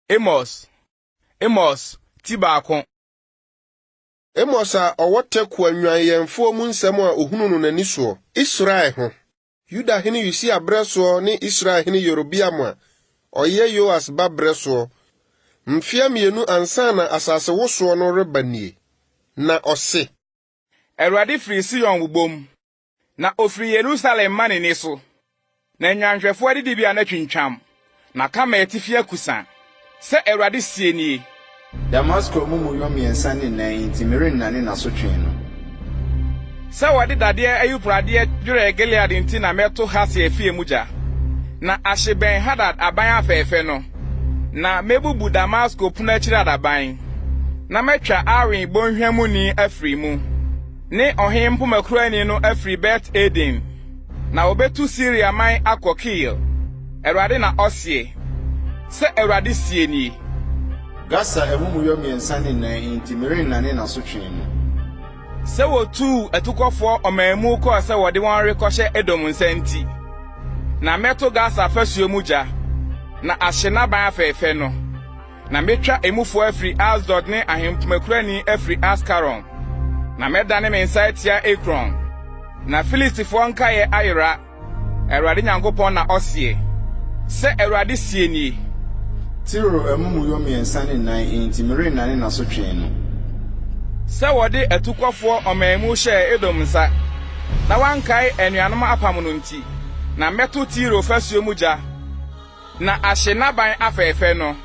Amos, Amos, ti baako. Amos a ɔwɔ Tekoa nnwannyɛnfoɔ mu nsɛm a ɔhunu no n'ani soɔ, Israel ho. Yuda hene Usia berɛ soɔ ne Israel hene Yerobeam a ɔyɛ Yoas ba berɛ soɔ, mfeɛ mmienu ansa na asase wosoɔ no reba nie. Na ɔse. Awurade firi Sion wobom. Na ofiri Yerusalem ma ne nne so, na nnwanhwɛfo adidibea no atwintwam, na Karmel atifi akusa, sɛ Awurade seɛ nie. Damasko amumuyɔ mmiɛnsa ne nan nti, merennane n'asotwee no. Sɛ wɔde dadeɛ ayuporadeɛ dwerɛɛ Gilead nti na mɛto Hasael fie mu gya, na ahye Ben-Hadad aban afɛɛfɛ no, na mɛbubu Damasko pono akyiri adaban, na matwa Awen bɔnhwa muni afiri mu. ne ɔhene mpomakurani no afiri Bet-Eden, na wɔbɛtu Siria man akɔ Kir, Awurade na ɔseɛ. Sɛ Awurade seɛ nie. Gasa amumuyɔ mmiɛnsa ne nan nti, merennane n'asotwe no. Sɛ wɔtuu atukɔfoɔ ɔman mu kɔɔ sɛ wɔde wɔn rekɔhyɛ Edom nsa nti. Na mɛto Gasa afasuo mu gya, na ahye n'aban afɛɛfɛ no. Na metwa emufo afiri Asdod ne ahempomakurani afiri Askaron, na mɛdane me nsa atia Ekron. Na Filistifoɔ nkaeɛ ayera, Awurade Nyankopɔn na ɔseɛ. Sɛ Awurade seɛ nie. Tiro amumuyɔ mmiɛnsa ne nan enti merennane n'asotwee no. Sɛ wɔde atukɔfoɔ ɔmaamu hyɛɛ Edom nsa, na wɔankae anuanom apam no nti, na mɛto Tiro fasuo mu gya. Na ahye n'aban afɛɛfɛ no,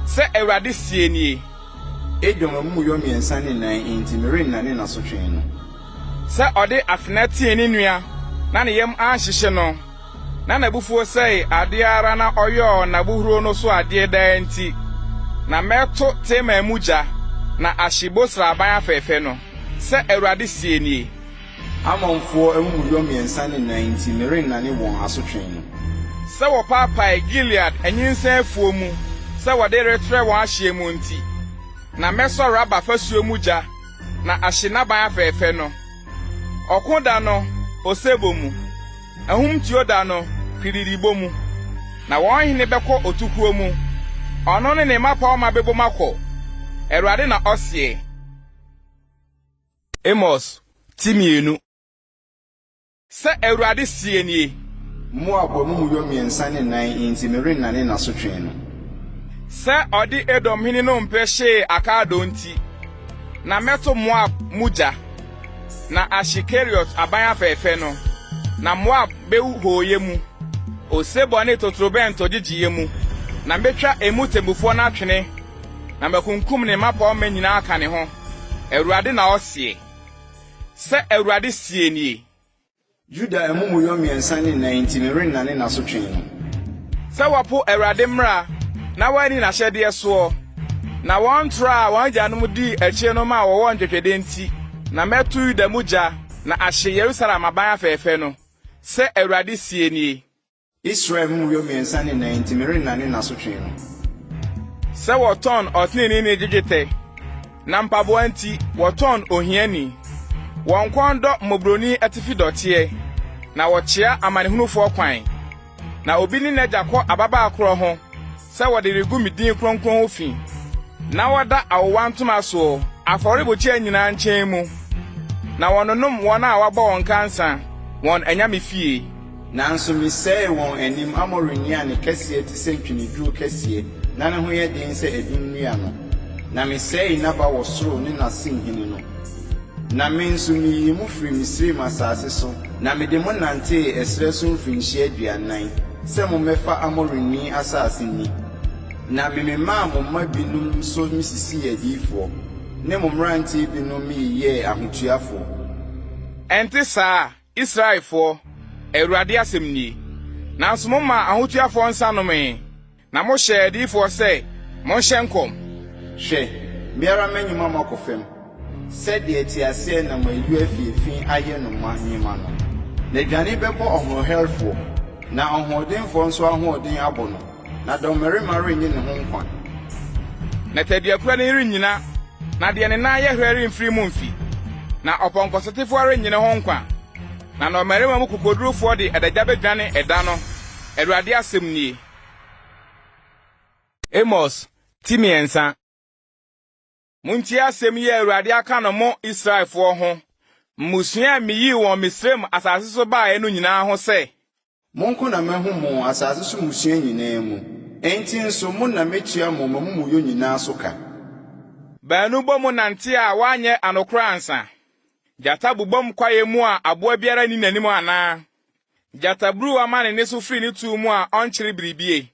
sɛ Awurade seɛ nie. Edom amumuyɔ mmiɛnsa ne nan enti, merennane n'asotwee no. Sɛ ɔde afena tee ne nua na ne yam anhyehye no, na n'abufuo sɛe adeɛ ara na ɔyɔɔ n'abohuro no so adeɛ daa nti. Na mɛto Teman mu gya, na ahye Bosra aban afɛɛfɛ no, sɛ Awurade seɛ nie. Ammonfoɔ amumuyɔ mmiɛnsa ne nan nti, merennane wɔn asotwee no. Sɛ wɔpaapae Gilead anyinsɛn afuo mu sɛ wɔde retrɛ wɔn ahyeɛ mu nti. Na mɛsɔ Raba fasuo mu gya na ahye n'aban afɛɛfɛ no. Ɔko da no, osebɔ mu. Ahumtuo da no, piridibɔ mu. Na wɔn hene bɛkɔ otukuo mu, ɔno ne ne mmapɔmma bɛbom akɔ, Awurade na ɔseɛ. Amos ti mmienu. Sɛ Awurade seɛ nie. Moab wɔ mo mu yɔ mmiɛnsa ne nan enti merennane n'asotwee no. Sɛ ɔde Edom hene nnompe hyee akaadoo nti, na mɛto Moab mu gya, na ahye Keriot aban afɛɛfɛ no, na Moab bɛwu hooyɛ mu, osebɔ ne totorobɛnto gyegyeeɛ mu, na mɛtwa emu temmufoɔ no atwene, na makunkum ne mmapɔmma nyinaa aka ne ho. Awurade na ɔseɛ. Sɛ Awurade seɛ nie. Yuda amumuyɔ mmiɛnsa ne nan nti, merennane n'asotwee no. Sɛ wɔpo Awurade mmara na wɔanni n'ahyɛdeɛ soɔ, na wɔn tra a wɔn agyanom dii akyire no ma wɔwɔ ntwetwedeɛ nti, na mɛto Yuda mu gya na ahye Yerusalem aban afɛɛfɛ no, sɛ Awurade seɛ nie. Israel mmuroe mmiɛnsa ne nan nti merennane n'asotwe no. Sɛ wɔtɔn ɔteneneeni gye dwetɛ, na mpaboa nti wɔtɔn ohiani. Wɔn kɔn dɔ mmɔborɔni atifi dɔteɛ, na wɔkyea amanehunufoɔ kwan. Na obi ne n'agya kɔ ababaa korɔ ho. sɛ wɔde regu me din kronkron ho fi, na wɔda awowa ntoma soɔ afɔrebukyia nyinaa nkyɛn mu, na wɔnonom wɔn a wɔabɔ wɔn ka nsã wɔn anyame fie. Nanso mesɛee wɔn anim Amori nnua a ne kɛseɛ te sɛ ntweneduro kɛseɛ na ne ho yɛ den sɛ adum nnua no, na mesɛee n'aba wɔ soro ne n'asen hene no. Na me nso meyii mo firii Misraim asase so, na mede mo nantee ɛserɛ so mfirinhyia aduanan, sɛ mommɛfa Amorini asase nni. Na mememaa mo mma bi nom nso mesisii adiyifoɔ, ne mo mmeranteɛ bi nom meyeyɛɛ ahotuafoɔ. Ɛnte saa, Israelfoɔ, Awurade asɛm nie, nanso momaa ahotuafoɔ nsa nomee. Na mohyɛɛ adiyifoɔ sɛ, Monhyɛ nkɔm. Hwɛ, me ara mɛnyi mo ama akɔ fam, sɛdeɛ teaseɛnam a ɛyuo afi efi ayɛ no ma nyima no. Na dwane bɛbɔ ɔhoɔherɛfoɔ, na ɔhoɔdenfoɔ nso ahoɔden abɔ no, na dɔmmarima rennye ne ho nkwa. Na tɛduapira no rennyina, na deɛ ne nan yɛ herɛ remfiri mu mfi, na ɔpɔnkɔsotefoɔ arennye ne ho nkwa, na nnɔmmarima mu kokodurufoɔ de adagya bɛdwane ɛda no, Awurade asɛm nie. Amos ti mmiɛnsa. Montie asɛm yi a Awurade aka no mo Israelfoɔ ho, mmusua a meyii wɔn Misraim asase so baeɛ no nyinaa ho sɛ. Mo nko na mahu mo asase so mmusua nyinaa mu, enti nso mo na mɛtua mo m'amumuyɔ nyinaa so ka. Baanu bɔ mu nante a wɔanyɛ anokorɔ ansa. Gyata bobom kwaeɛ mu a aboa biara nni n'anim anaa? Gyataburuwa ma ne nne so firi ne tuo mu a ɔnkyere biribie.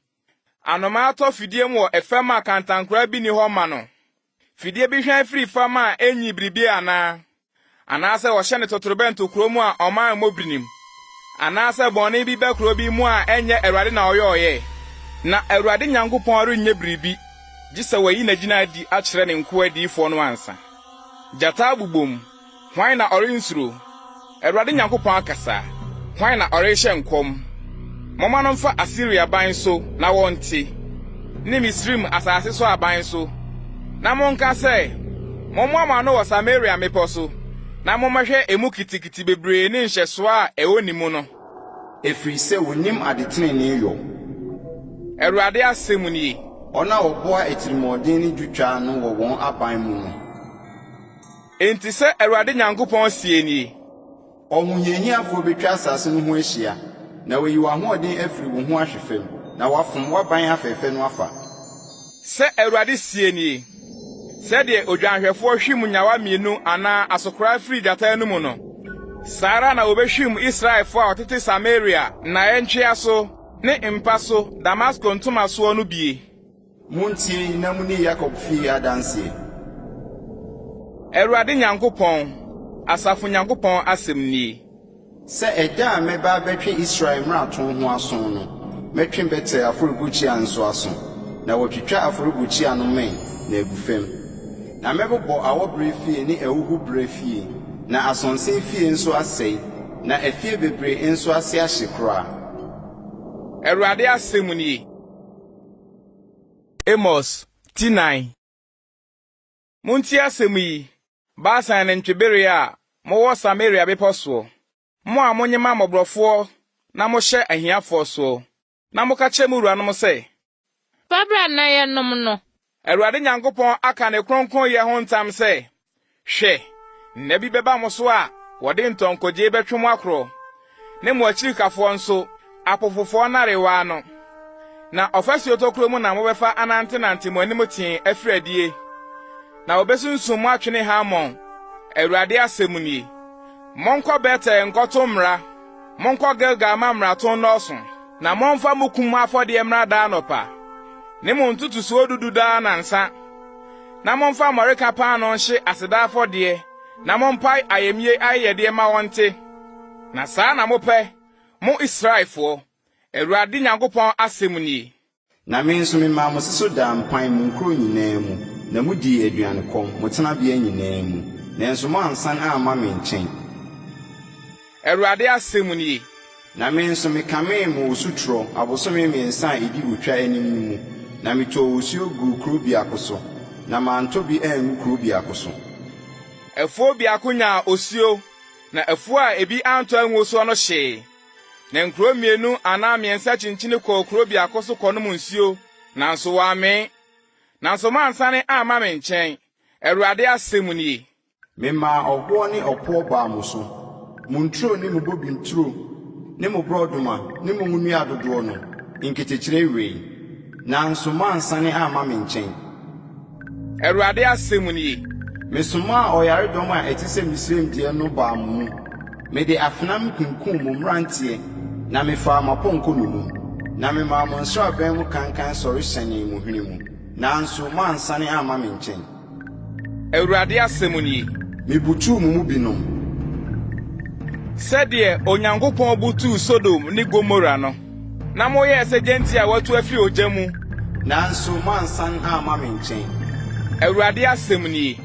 Anomaa tɔ fidie mu wɔ ɛfam a kantankoraa bi nni hɔ mma no. Fidie bi hwan firi fam a ɛnnyii biribie anaa? Anaasɛ wɔhyɛ no totorobɛnto kuro mu a ɔman mmɔ birinim? Anaasɛ bɔne bi ba kuro bi mu a ɛnyɛ Awurade na ɔyɔɔeɛ? Na Awurade Nyankopɔn renyɛ biribi gye sɛ wayi n'agyina adi akyerɛ ne nkoa adiyifoɔ no ansa. Gyata abobom. Hwan na ɔrensuro? Awurade Nyankopɔn akasa, hwan na ɔrehyɛ nkɔm? Momma no mfa Asiria ban so na wɔnte, ne Misraim asase so aban so, na monka sɛ, Mommoa mo ano wɔ Samaria mmepɔ so, na mommɛhwɛ emu kitikiti bebree ne nhyɛsoɔ a ɛwɔ ne mu no. Ɛfiri sɛ wɔnnim adetenenee yɔ. Awurade asɛm nie. Wɔn a wɔboa atirimuɔden ne dwotwa ano wɔ wɔn aban mu no. Enti sɛ Awurade Nyankopɔn seɛ nie. Ɔhohiahiafoɔ bɛtwa asase no ho ahyia, na wayi w'ahoɔden afiri wo ho ahwe fam, na wafom w'aban afɛɛfɛ no afa. Sɛ Awurade seɛ nie. Sɛdeɛ odwanhwɛfoɔ hwim nyawa mmienu anaa asokoraa firi gyata anom no, saa ara na wɔbɛhwim Israelfoɔ a wɔtete Samaria nnaeɛ ntwea so ne mpa so Damasko ntomasoɔ no bie. Montie na moni Yakob fie adanseɛ. Awurade Nyankopɔn, asafo Nyankopɔn asɛm nie. Sɛ ɛda a mɛba abɛtwe Israel mmarato ho aso no, mɛtwe Betel afɔrebukyia nso aso, na wɔatwitwa afɔrebukyia no mmɛn na agu fam. Na mɛbobɔ awɔberɛ fie ne ahuhuberɛ fie, na asonse fie nso asɛe, na afie bebree nso ase ahye koraa. Awurade asɛm nie. Amos ti nan. Montie asɛm yi, Basan nantwibere a mowɔ Samaria bepɔ soɔ, mo a monyema mmɔborɔfoɔ na mohyɛ ahiafoɔ soɔ, na moka kyerɛ mo wuranom sɛ. Fa bra na yɛnom no. Awurade Nyankopɔn aka ne kronkronyɛ ho ntam sɛ. Hwɛ! Nna bi bɛba mo so a wɔde ntɔnkɔgye bɛtwe mo akorɔ, ne mo akyirikafoɔ nso, apofofoɔ nnarewa ano. Na ɔfasuo tokuro mu na mobɛfa anantenante mo anim tee afiri adie, na wɔbɛsunsum mo atwene ha mmɔn, Awurade asɛm nie. Monkɔ Betel nkɔto mmara, monkɔ Gilgal mma mmarato nnɔɔso. Na momfa mo kum afɔdeɛ mmra daa anɔpa, ne mo ntotosoɔ dudu daa nnansa. na momfa mmɔreka paanoo nhye aseda afɔdeɛ, na mompae ayamye ayɛyɛdeɛ mma wɔnte. Na saa na mopɛ, mo Israelfoɔ, Awurade Nyankopɔn asɛm nie. Na me nso memaa mo se so daa mpan mo nkuro nyinaa mu, na modii aduankɔm, mo tenabea nyinaa mu, nanso moansan amma me nkyɛn. Awurade asɛm nie. Na me nso mekamee mo osutorɔ abosome mmiɛnsa a ɛdi otwa anim no mu, na metɔɔ osuo guu kuro biako so, na mantɔ bi angu kuro biako so. Afuo biako nyaa osuo, na afuo a ebi antɔ anguo soɔ no hyee. Na nkuro mmienu anaa mmiɛnsa kyinkyini kɔɔ kuro biako so kɔnom nsuo, nanso wɔammee. Nanso moansane amma me nkyɛn, Awurade asɛm nie. Memaa ɔhoɔ ne ɔpoɔ baa mo so. Mo nturo ne mo bobim turo ne mo borɔdoma ne mo ngonua dodoɔ no, nketekyeree wee. Nanso moansane amma me nkyɛn. Awurade asɛm nie. Mesomaa ɔyaredɔm a ɛte sɛ Misraim deɛ no baa mo mu. Mede afenam kunkum mo mmeranteɛ na mefaa mo apɔnkɔ nnommum, na memaa mo nsraban mu kankan sɔre hyɛnee mo hwene mu, nanso moansane amma me nkyɛn. Awurade asɛm nie. Mebutuw mo mu binom. Sɛdeɛ Onyankopɔn butuu Sodom ne Gomora no. Na moyɛɛ sɛ gyanti a wɔatu afiri ogya mu. Nanso moansan amma me nkyɛn. Awurade asɛm nie.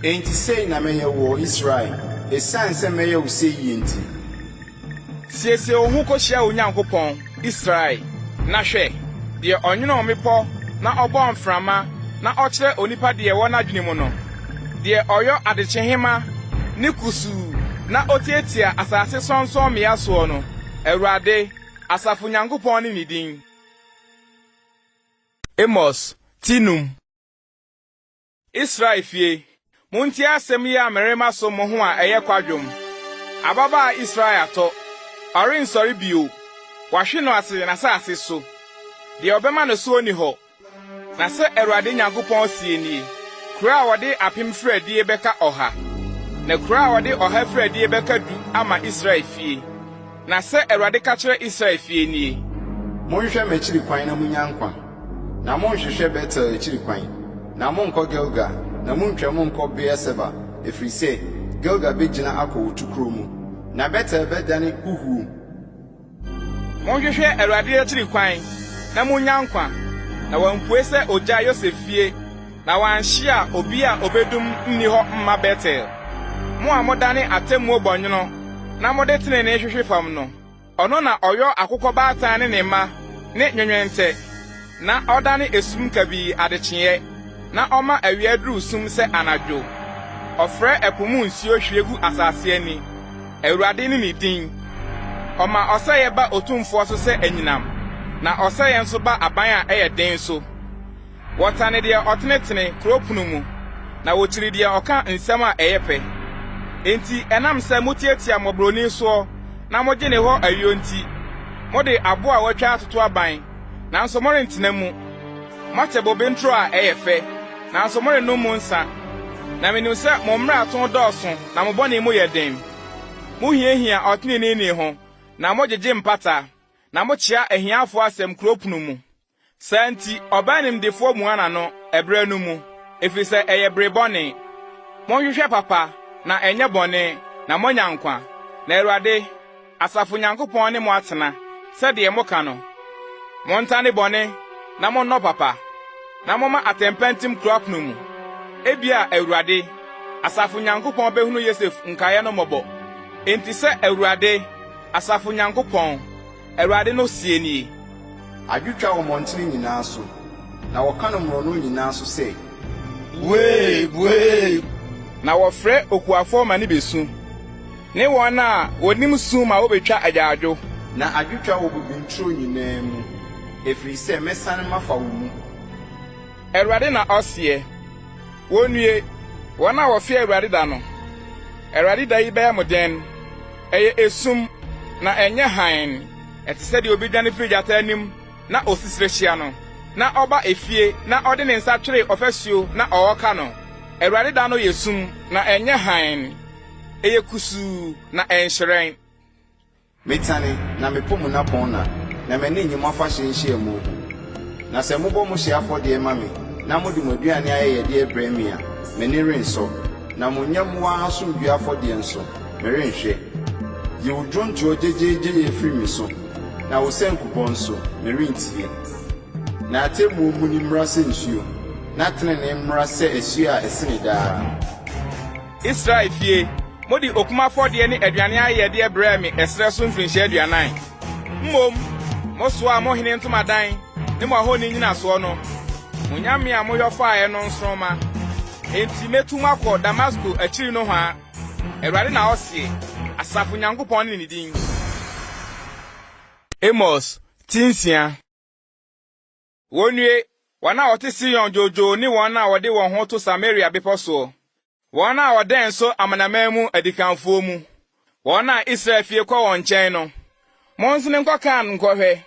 Enti sei na mɛyɛ woɔ, Israel, ɛsiane sɛ mɛyɛ wo sei yie nti. Siesie wo ho kohyia wo Nyankopɔn, Israel, na hwɛ, deɛ ɔnwonoo mmepɔ na ɔbɔɔ mframa na ɔkyerɛ onipa deɛ ɛwɔ n'adwene mu no, deɛ ɔyɔ adekyehema ne kusuu na ɔtiatia asase sorɔnsorɔmmea soɔ no, Awurade, asafo Nyankopɔn ne ne din. Amos, ti num. Israel fie, montie asɛm yi a merema so mo ho a ɛyɛ kwadwom, Ababaa Israel atɔ, ɔrensɔre bio, wɔahwe no ase n'asase so, deɛ ɔbɛma no soɔ nni hɔ. Na sɛ Awurade Nyankopɔn seɛ nie, Kuro a wɔde apem firi adie bɛka ɔha, na kuro a wɔde ɔha firi adie bɛka du ama Israel fie. Na sɛ Awurade ka kyerɛ Israel fie nie. Monhwɛ m'akyiri kwan na monnya nkwa, na monnhwehwɛ Betel akyiri kwan, na monnkɔ Gilgal, na munntwa mu nnkɔ Beer-Seba, ɛfiri sɛ Gilgal bɛgyina akɔ wo tokuro mu, na Betel bɛdane huhuo. Monhwehwɛ Awurade akyiri kwan na monnya nkwa, na wampue sɛ ɔgyaa Yosef fie. Na wɔanhyia obi a obedum nni hɔ mma Betel. Mo a modane atemmuo bɔnwono na mode tenenee hwehwe fam no, ɔno na ɔyɔ akokɔbaatan ne ne mma ne nwenwente, na ɔdane esum kabii adekyeeɛ, na ɔma awia duru sum sɛ anadwo. Ɔfrɛ ɛpo mu nsuo hwie gu asase ani. Awurade ne ne din. Ɔma ɔsɛeɛ ba Otumfoɔ so sɛ anyinam, na ɔsɛeɛ nso ba aban a ɛyɛ den so. Wɔtane deɛ ɔtenetene kuro pono mu, na wɔkyiri deɛ ɔka nsɛm a ɛyɛ pɛ. Enti ɛnam sɛ motiatia mmɔborɔni soɔ na mogye ne hɔ ayuo nti, mode aboɔ a wɔatwa atoto aban, nanso morentena mu. Moate bobe nturo a ɛyɛ fɛ, nanso morennom mu nsã. Na menim sɛ mo mmarato dɔɔso na mo bɔne mu yɛ den. Mohiahia ɔteneneeni ho, na mogyegye mpata, na mokyea ahiafoɔ asɛm kuro pono mu. Saa nti, ɔbaa nimdefoɔ mua n'ano ɛberɛ no mu, ɛfiri sɛ ɛyɛ bere bɔne. Monhwehwɛ papa, na ɛnyɛ bɔne, na moanya nkwa, na Awurade, asafo Nyankopɔn ne mo atena, sɛdeɛ moka no. Montane bɔne, na monnɔ papa, na momma atɛmpa ntim kuro apono mu. Ebia Awurade, asafo Nyankopɔn bɛhunu Yosef nkaeɛ no mmɔbɔ. Enti sɛ Awurade, asafo Nyankopɔn, Awurade no seɛ nie. Adwotwa wɔ mmɔntene nyinaa so, na wɔka no mmorɔnoo nyinaa so sɛ, Buee! Buee! Na wɔfrɛ okuafoɔ ma no bɛsu, ne wɔn a wɔnim su ma wɔbɛtwa agyaadwo. Na adwotwa wɔ bobe nturo nyinaa mu, ɛfiri sɛ mɛsane mafa wo mu. Awurade na ɔseɛ. Wonnue, wɔn a wɔfe Awurade da no! Awurade da yi bɛyɛ mo dɛn? Ɛyɛ esum, na ɛnyɛ hann. Ɛte sɛ deɛ obi dwane firi gyata anim na osi serehyia no, na ɔba efie na ɔde ne nsa twere ɔfasuo na ɔreka no. Awurade da no yɛ sum, na ɛnyɛ hann. Ɛyɛ kusuu, na ɛnhyerɛn. Metane, na mepo mo nnapɔnna, na m'ani nnye mo afahyɛ nhyiamu ho. Na sɛ mobɔ mo hyeɛ afɔdeɛ ma me, na mode mo aduane ayɛyɛdeɛ brɛ me a, m'ani rensɔ. Na mo nyɛmmoa asomdwoeɛ afɔdeɛ nso, merenhwɛ. Yi wo dwontoɔ gyegyeegyeyɛ firi me so, na wo sankubɔ nso, merentie. Na atemmuo muni mmra sɛ nsuo, na tenenee mmra sɛ asuo a ɛsene daa. Israel fie, mode okum afɔdeɛ ne aduane ayɛyɛdeɛ brɛɛ me ɛserɛ so mfirinhyia aduanan. Mmom mosoaa mo hene ntomadan ne mo ahoni nnyinasoɔ no, mo nyame a moyɔ faeɛ no nsoromma. Enti mɛtu mo akɔ Damasko akyiri nohoa, Awurade na ɔseɛ, asafo Nyankopɔn ne ne din. Amos, Ti Nsia. Wonnue, wɔn a wɔte Sion dwoodwoo ne wɔn a wɔde wɔn ho to Samaria bepɔ soɔ, wɔn a wɔdɛn nso amanaman mu adikanfoɔ mu, wɔn a Israel fie kɔ wɔn nkyɛn no. Monsene nkɔ Kan nkɔhwɛ,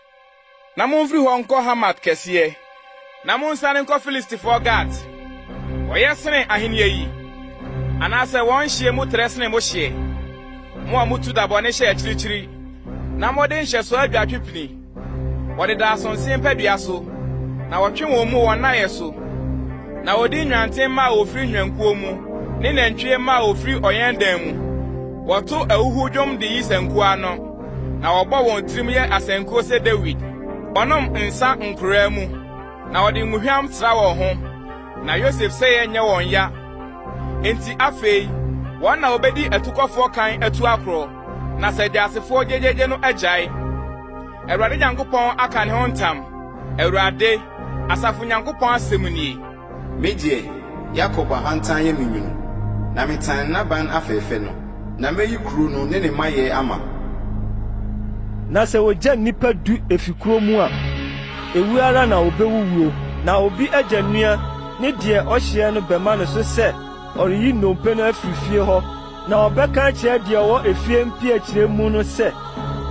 na momfiri hɔ nkɔ Hamat kɛseɛ. Na monsiane nkɔ Filistifoɔ Gat. Wɔyɛ sene ahennie yi? Anaasɛ wɔn nhyeɛ mu trɛ sene mo hyeɛ, mo a motu da bɔne hyɛ akyirikyiri, na mode nhyɛsoɔ adwatwe pini? Wɔdeda asonse mpadua so, na wɔtwe wɔn mu wɔn nnaeɛ so, na wɔdi nnwantemma a wɔfiri nnwankuo mu ne nantwie mma a wɔfiri ɔyɛndan mu. Wɔto ahuhuo dwom de yi sankuo ano, na wɔbɔ wɔn tirim yɛ asankuo sɛ Dawid. Wɔnom nsã nkoraa mu, na wɔde ngohwam sra wɔn ho. Na Yosef sɛeɛ nyɛ wɔn ya, enti afei wɔn na wɔbɛdi atukɔfoɔ kan atu akorɔ. Na sɛ Teasefoɔ gyegyeegye no agyae, Awurade Nyankopɔn aka ne ho ntam, Awurade, asafo Nyankopɔn asɛm nie. Me deɛ, Yakob ahantan yɛ me nwunu, Na metan n'aban afɛɛfɛ no, Na mɛyi kuro no ne ne mayɛ ama. Na sɛ wɔgya nnipa du fi kuro mu a, ɛwuo ara na wɔbɛwuwuo, Na obi agya nua ne deɛ ɔhyeɛ no bɛma no so sɛ ɔreyi nnompe no afiri fie hɔ. Na ɔbɛka akyerɛ deɛ ɔwɔ efie mpiakyire mu no sɛ,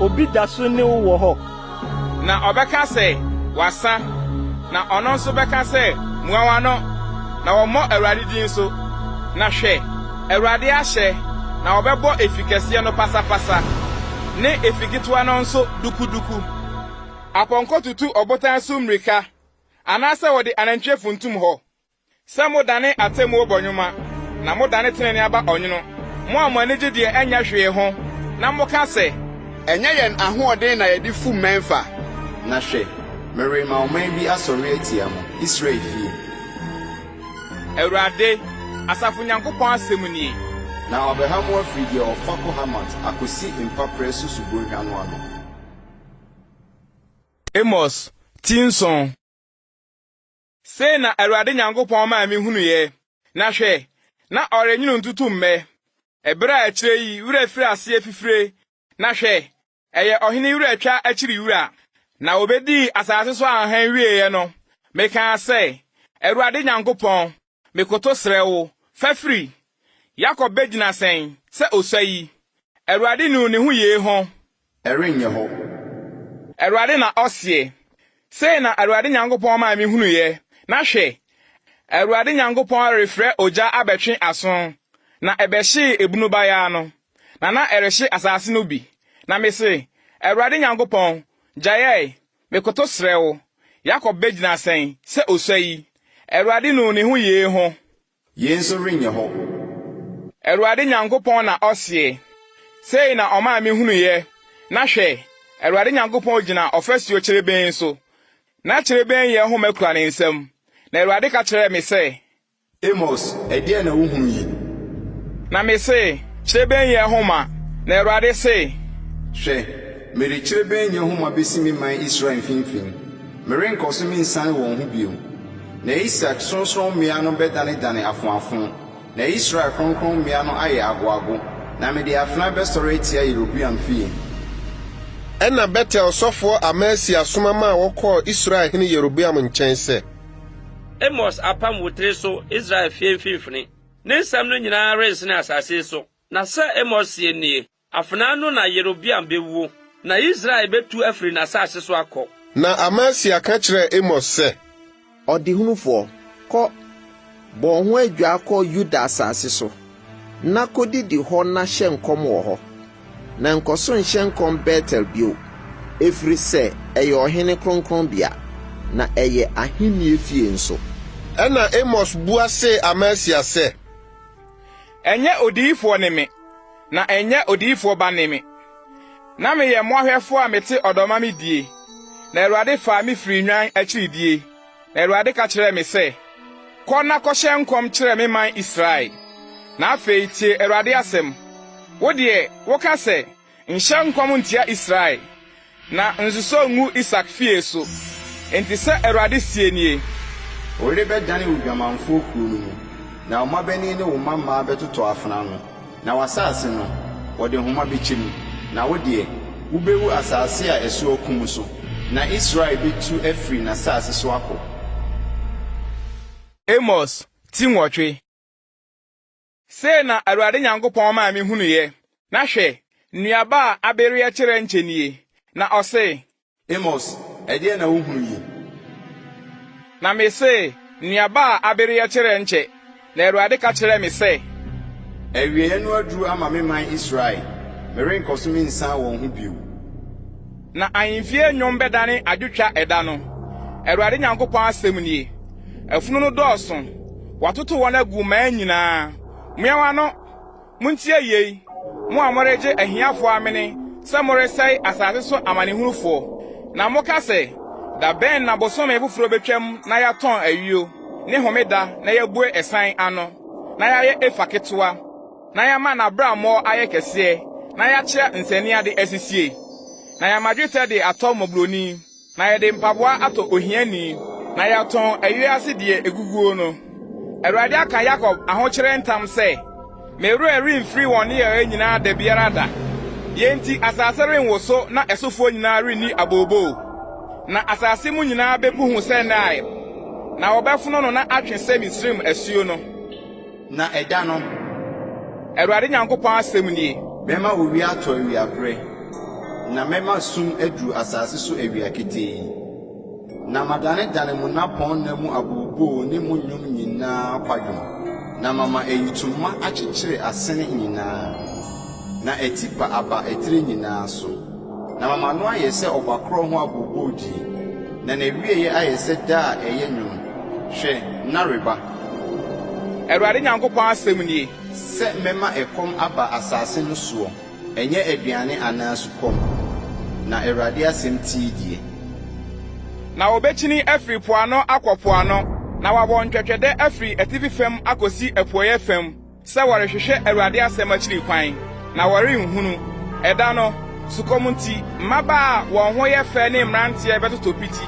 Obi da so ne wo wɔ hɔ. Na ɔbɛka sɛ, Wasa. Na ɔno nso bɛka sɛ, Mua w'ano, na wɔmmɔ Awurade din so. Na hwɛ! Awurade ahyɛ, na wɔbɛbɔ efi kɛseɛ no pasapasa, ne efi ketewa no nso dukuduku. Apɔnkɔ tutu ɔbotan so mmirika, anaasɛ wɔde anantwie funtum hɔ. Sɛ modane atemmuo bɔ nwoma, na modane tenenee aba ɔnwono, mo a mo ani gye deɛ ɛnyɛ hwee ho, na moka sɛ. Ɛnyɛ yɛn ahoɔden na yɛde fu mmɛn fa. Na hwɛ, merema ɔman bi asɔre atia mo, Israel fie. Awurade, asafo Nyankopɔn asɛm nie. Na wɔabɛha mo afiri deɛ ɔfa kɔ Hamat akɔsi mpaperɛ so subonhwa no ano. Amos, Ti Nson. Sei na Awurade Nyankopɔn maa mehunuiɛ, na hwɛ, na ɔrenwono ntutu mmɛ, ɛberɛ a akyire yi werɛ firi aseɛ fifire, na hwɛ, ɛyɛ ɔhene werɛtwa akyiri wura. Na wɔbɛdii asase so ahanhan wieeɛ no, mekaa sɛ, Awurade Nyankopɔn, mekoto srɛ wo, fa firi! Yakob bɛgyina sɛn sɛ ɔsua yi? Awurade nuu ne ho yei ho, Ɛrenyɛ hɔ. Awurade na ɔseɛ. Sei na Awurade Nyankopɔn maa mehunuiɛ, na hwɛ! Awurade Nyankopɔn refrɛ ogya abɛtwe aso, na ɛbɛhyee ebunu bayaa no, na na ɛrehye asaase no bi. Na mese, Awurade Nyankopɔn, gyaɛɛ, mekoto srɛ wo, Yakob bɛgyina sɛn sɛ ɔsua yi? Awurade nuu ne ho yee ho, Yei nso renyɛ hɔ. Awurade Nyankopɔn na ɔseɛ. Sei na ɔmaa mehunuiɛ, na hwɛ! Awurade Nyankopɔn gyina ɔfasuo kyerebenn so, na kyerebenn yɛ homa kura ne nsam. Na Awurade ka kyerɛɛ me sɛ. Amos, ɛdeɛn na wohunu yi? Na mese, Kyerebenn yɛ homa. Na Awurade se. Hwɛ, mede kyerebenn yɛ homa bɛsi me man Israel mfimfini. Merenkɔ so mensiane wɔn ho bio. Na Isak sorɔnsorɔmmea no bɛdanedane afoafo, na Israel kronkronbea no ayɛ agoago, na mede afena bɛsɔre atia Yeroboam fie. Ɛnna Betel sɔfoɔ Amasia soma maa wɔkɔɔ Israel hene Yeroboam nkyɛn sɛ. Amos apam wo tiri so Israel fie mfimfini, ne nsɛm no nyinaa rensene asase yi so. Na sɛ Amos seɛ nie. Afenaa no na Yerobeam bɛwuo. Na Israel bɛtu afiri n'asase so akɔ. Na Amasia ka kyerɛɛ Amos sɛ. Ɔdehunufoɔ, kɔ, bɔ wo ho adwaa kɔ Yuda asase so, na kɔdidi hɔ na hyɛ nkɔm wɔ hɔ, na nkɔso nhyɛ nkɔm Betel bio, ɛfiri sɛ ɛyɛ ɔhene kronkronbea, na ɛyɛ ahennie fie nso. Ɛnna Amos bua see Amasia sɛ. Ɛnyɛ odiyifoɔ ne me. na ɛnyɛ odiyifoɔ ba ne me. Na meyɛ mmoahwɛfoɔ a mete ɔdɔ ma me die, na Awurade faa me firii nnwan akyiri die, na Awurade ka kyerɛɛ me sɛ, Kɔ na kɔhyɛ nkɔm kyerɛ me man Israel. Na afei tie Awurade asɛm. Wo deɛ, woka sɛ, 'Nhyɛ nkɔm ntia Israel. Na nsosɔ ngu Isak fie so. Enti sɛ Awurade seɛ nie. Wode bɛdane wo dwamanfoɔ kuro no mu, na wo mmabanin ne wo mmammaa bɛtotɔ afena ano, na w'asaase no, wɔde homa bɛkyɛ mu. Na wo deɛ, wobɛwu asaase a ɛso akumm so, na Israel bɛtu afiri n'asaase so akɔ. Amos ti nwɔtwe. Sei na Awurade Nyankopɔn maa me hunuiɛ, na hwɛ, nnuaba a abereɛ kyerɛ nkyɛ nie, na ɔsee. Amos, ɛdeɛn na wohunu yi? Na mesee, Nnuaba a abereɛ kyerɛ nkyɛ, na Awurade ka kyerɛɛ me sɛ. Awieɛ no aduru ama me man Israel, merenkɔso mensiane wɔn ho bio. Na ahemfie nnwom bɛdane adwotwa ɛda no, Awurade Nyankopɔn asɛm nie. Afunu no dɔɔso, wɔatoto wɔn agu mmaa nyinaa. Moawa no! Montie yei, mo a moregye ahiafoɔ amene sɛ moresɛe asase so amanehunufoɔ, na moka sɛ, Da bɛn na bosome foforɔ bɛtwam na yɛatɔn ayuo, ne homeda na yɛabue ɛsan ano, na yɛayɛ efa ketewa? na yɛama n'abraammɔ ayɛ kɛseɛ, na yɛakyea nsɛnneade asisie, na yɛama dwetɛ de atɔ mmɔborɔni, na yɛde mpaboa atɔ ohiani, na yɛatɔn ewiase deɛ ɛguguo no. Awurade aka Yakob ahokyerɛ ntam sɛ, Me werɛ remfiri wɔn nneyɛeɛ nyinaa da biara da. Yei nti asase renwoso na ɛsofoɔ nyinaa renni abooboo. Na asase mu nyinaa bɛkuhu sɛ Nile, na wɔbɛfono no na atwe sɛ Misraim asuo no. Na ɛda no. Awurade Nyankopɔn asɛm nie. Mɛma owia atɔ awia berɛ, na mɛma sum aduru asase so awia ketee, na madanedane mo nnapɔn nna mu abooboo ne mo nnwom nyina ara kwadwom, na mama ayitoma akyekyere asene nyina ara, na atipa aba etire nyina ara so, na mama no ayɛ sɛ ɔba korɔ ho abooboodie, na n'awieɛ ayɛ sɛ da a ɛyɛ nwunu, hwɛ, nna reba. Awurade Nyankopɔn asɛm nie. Sɛ mɛma ɛkɔm aba asaase no soɔ, ɛnyɛ aduane anaa sukɔm, na Awurade asɛm tie deɛ. Na wɔbɛkyini afiri po ano akɔ po ano, na wɔabɔ ntwɛtwɛdɛ afiri atifi fam akɔsi apueeɛ fam. Sɛ wɔrehwehwɛ Awurade asɛm akyiri kwan, na wɔrenhunu. Ɛda no, sukɔm nti, mmabaa a wɔn ho yɛ fɛ ne mmeranteɛ bɛtotɔ piti.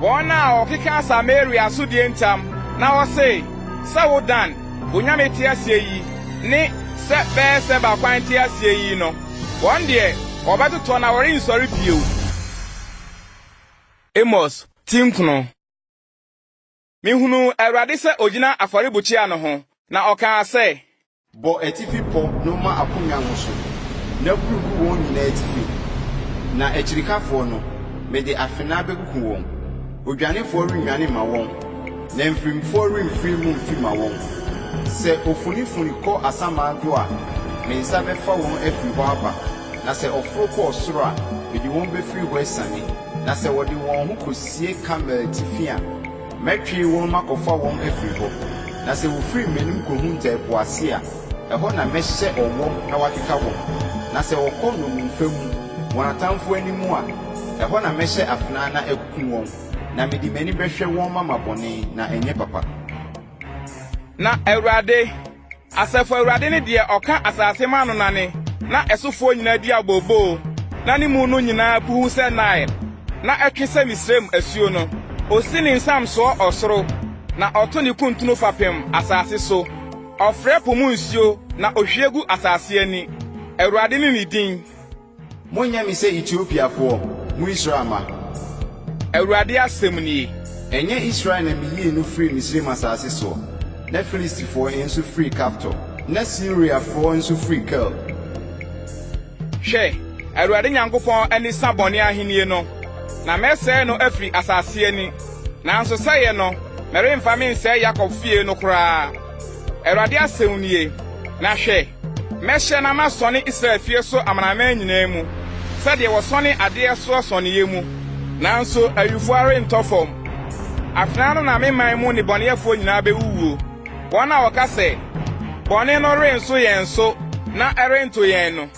Wɔn na wɔkeka Samaria so deɛ ntam, na wɔse, Sɛ wo Dan, onyame te aseɛ yi, ne sɛ Beer-Seba kwan te aseɛ yi no, wɔn deɛ, wɔbɛtotɔ na wɔrensɔre bio. Amos, Ti Nkono. Mehunuu Awurade sɛ ogyina afɔrebukyia no ho, na ɔkaa sɛ. Bɔ atifi pɔ no ma akonnwa no so, na kuru gu wɔn nyinaa atifi. Na akyirikafoɔ no, mede afenaa bɛkuku wɔn. Odwanefoɔ rennwane mma wɔn, na mfirimfoɔ remfiri mu mfi mma wɔn. Sɛ ofunifuni kɔ asamman do a, me nsa bɛfa wɔn afiri hɔ aba, na sɛ ɔforo kɔ ɔsoro a, mede wɔn bɛfiri hɔ asiane. Na sɛ wɔde wɔn ho kosie Karmel atifi a, mɛtwe wɔn makɔfa wɔn afiri hɔ. Na sɛ wɔfiri m'anim kɔhunta ɛpo ase a, ɛhɔ na mɛhyɛ ɔwɔm na wɔakeka wɔn. Na sɛ wɔkɔ nnommumfa mu, wɔn atamfo anim a, ɛhɔ na mɛhyɛ afenaa na akum wɔn. Na mede m'ani bɛhwɛ wɔn mama bɔne, na ɛnyɛ papa. Na Awurade. Asafo Awurade ne deɛ ɔka asase ma ano nane, na ɛsofoɔ nyinaa di abooboo, na ne mu no nyinaa puhuw sɛ Nile, na ɛtwe sɛ Misraim asuo no. Osi ne nsam soɔ ɔsoro, na ɔto ne kuntunu fapem asase so. Ɔfrɛ po mu nsuo, na ohwie gu asase ani. Awurade ne ne din. Monyɛ me sɛ Etiopiafoɔ, mo Israel mma. Awurade asɛm nie. Ɛnyɛ Israel na meyii no firii Misraim asase soɔ, na Filistifoɔ nso firii Kaftor, na Siriafoɔ nso firii Kir? Hwɛ, Awurade Nyankopɔn ani sa bɔne ahennie no, na mɛsɛe no afiri asase ani, nanso sɛeɛ no, meremfa mensɛe Yakob fie no koraa. Awurade asɛm nie, Na hwɛ, mɛhyɛ na masɔne Israel fie so amanaman nyinaa mu sɛdeɛ wɔsɔne adeɛ soɔ sɔneeɛ mu, nanso awifoɔ rentɔ fam. Afenaa no na me man mu nnebɔneyɛfoɔ nyinaa bɛwuwuo, wɔn a wɔka sɛ, Bɔne no renso yɛn so na ɛrento yɛn no.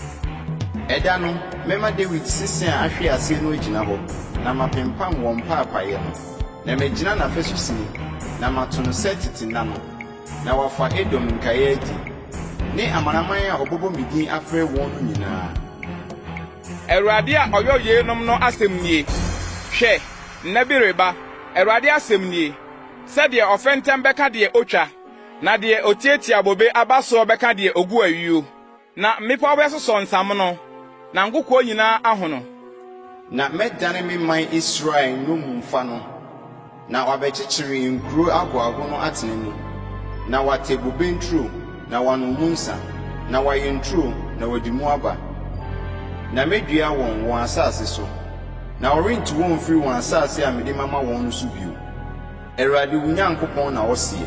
Ɛda no, mɛma Dawid sese a ahwe aseɛ no agyina hɔ, na mapempam wɔn mpaapaeɛ no. Na mɛgyina n'afasu sini, na mato no sɛ tete nna no, na wɔafa Edom nkaeɛ adi, ne amanaman a wɔbɛbɔ me din afrɛ wɔn no nyinaa. Awurade a ɔyɔ yeinom no asɛm nie, Hwɛ, nna bi reba, Awurade asɛm nie, sɛ deɛ ɔfɛntɛm bɛka deɛ ɔtwa, na deɛ ɔtiatia bobe aba soɔ bɛka deɛ ɔgu ayuo. Na mmepɔw bɛsosɔ nsamono, na nkokoɔ nyinaa ahono. Na mɛdane me man Israel nnommumfa no, na wɔabɛkyekyere nkuro ahoaho no atena mu, na wɔate bobe nturo, na wɔanom mu nsã, na wɔayɛ nturo, na wɔadi mu aba. Na medua wɔn, wɔn asase so, na wɔrente wɔn mfiri wɔn asase a mede mama wɔn no so bio. Awurade wo Nyankopɔn na ɔseɛ.